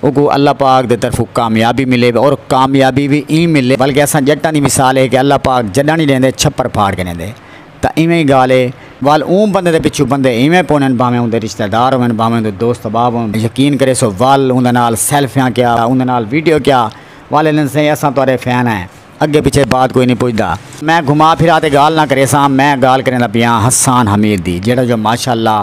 اوکوں اللہ پاک دے طرفوں کامیابی ملے اور کامیابی وی ایں ملے بلکہ اساں جٹاں دی مثال اے کہ اللہ پاک جڈاں نی ڈیندے چھپر پھاڑ کے ڈیندے تاں ایویں ای گالھ اے ول اوں بندے دے پچھوں بندے ایویں پونن بھانویں اوندے رشتہ دار ہوون بھانویں اوندے دوست احباب ہوون یقین کریسو ول اوندے نال سیلفیاں کیا اوندے نال ویڈیو کیا ول الن سئیں اساں تہاڈے فین ہیں اگے پچھے بات کوئی نی پچھدا۔ میں گھما پھرا تے گالھ نہ کریساں میں گالھ کریندا پیاں حسان حمید دی جیہڑا جو ماشاءاللہ۔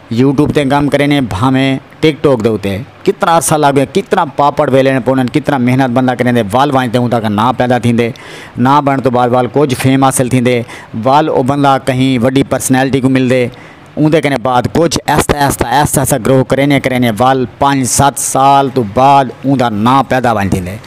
یوٹیوب تے کم کرینے بھانویں ٹک ٹاک دے اتے کتنا عرصہ لگ گئے کتنا پاپڑ ویلنے پونن کتنا محنت بندہ کریندے وال وانج تے ہوں تاکہ ناں پیدا تھیندے ناں بنن تو بعد وال کچھ فیم حاصل تھیندے وال او بندہ کہیں وڈی پرسنالٹی کوں ملدے اوندے کنے بعد کچھ ایستا ایستا ایستا ایستا گروہ کرینے کرینے وال پنج ست سال تو بعد اوندا ناں پیدا ونج تھیندے۔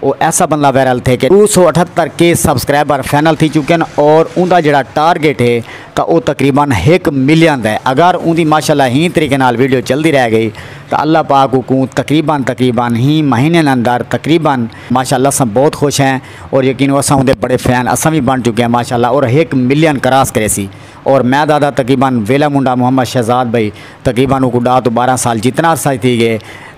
او ایسا بندہ وائرل تھے کہ ݙو سو اٹھہتر کے سبسکرائبر فائنل تھی چکن اور اوندا جیڑھا ٹارگٹ ہے تاں او تقریبا ہک ملین دا ہے اگر اوندی ماشاءاللہ ہی طریقے نال ویڈیو چلدی رہ گئی تاں اللہ پاک اوکوں تقریبا تقریبا ہی مہینین اندر تقریبا ماشاءاللہ اساں بہت خوش ہیں اور یقینو اساں اوندے بڑے فین اساں وی بݨ چکے ہیں ماشاءاللہ اور ہک ملین کراس کریسی اور میں دادا تقریبا ویلا منڈا محمد شہزاد بھائی تقریبا اوکوں ݙاہ توں ٻارہاں سال جتنا عرصہ تھی گئے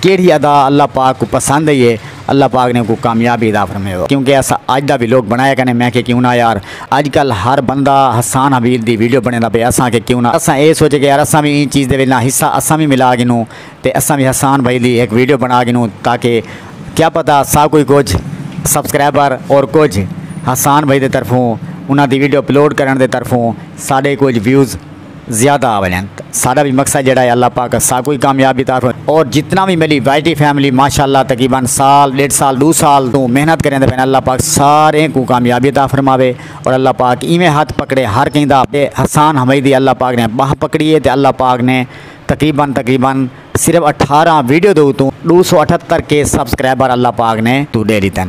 کیڑھی ادا اللہ پاک کوں پسند ہئی ہے اللہ پاک نے اوکوں کامیابی عطا فرماوے کیونکہ اساں اج دا ویلوگ بنڑایا کنے میں آکھیا کیوں نہ یار اج کل ہر بندہ حسان حبیل دی ویڈیو بنڑیندا پئے اساں آکھیا کیوں نہ اساں اے سوچے کہ یار اساں وی ایں چیز دے وچ نا حصہ اساں وی ملا گھنوں تے اساں وی حسان بھائی دی ہک ویڈیو بنڑا گھنوں تاکہ کیا پتہ سا کوئی کجھ سبسکرائبر اور کجھ حسان بھائی دے طرفوں انہاں دی ویڈیو اپلوڈ کرنڑ دے طرفوں ساڈے کجھ ویوز زیادہ آ ونجن تے ساڈا وی مقصد جیڑھا ہے اللہ پاک اساکوں وی کامیابی عطا فرمائے اور جتنا وی میڈی وائی ٹی فیملی ماشاءاللہ تقریبا سال ڈیڈھ سال ڈو سال توں محنت کریندے پئے ہن اللہ پاک ساریں کوں کامیابی عطا فرماوے اور اللہ پاک ایویں ہتھ پکڑے ہر کہیں دا تے حسان حمیدی دی اللہ پاک نے باہ پکڑی ہے تے اللہ پاک نے تقریبا تقریبا صرف اٹھارہ ویڈیو دے اتوں ڈو سو اٹھتر کے سبسکرائبر اللہ پاک نے توں ڈے ڈتن۔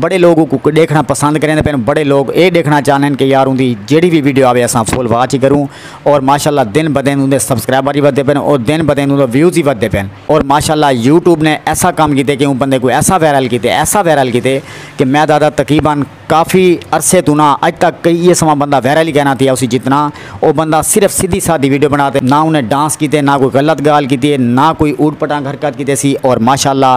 بڑے لوگ اوکوں ڈیکھنڑاں پسند کریندے پئن بڑے لوگ اے ڈیکھنڑاں چاہندے ہن کہ یار اوندی جیڑھی وی ویڈیو آوے اساں فل واچ ای کروں اور ماشاءاللہ دن بہ دن اوندے سبسکرائبر ای ودھدے پئن اور دن بہ دن اوندے ویوز ای ودھدے پئن اور ماشاءاللہ یوٹیوب نے ایسا کم کیتے کہ اوں بندے کوں ایسا وائرل کیتے ایسا وائرل کیتے کہ میں دادا تقریبا کافی عرصے توں نہ اج تک کئی ایہ سواں بندہ وائرل ای کائنا تھیا ہوسی جتنا او بندہ صرف سدھی سادھی ویڈیو بنڑا تے نہ اونے ڈانس کیتے نہ کوئی غلط گالھ کیتی اے نہ کوئی اوٹ پٹانگ حرکت کیتے سی اور ماشاءاللہ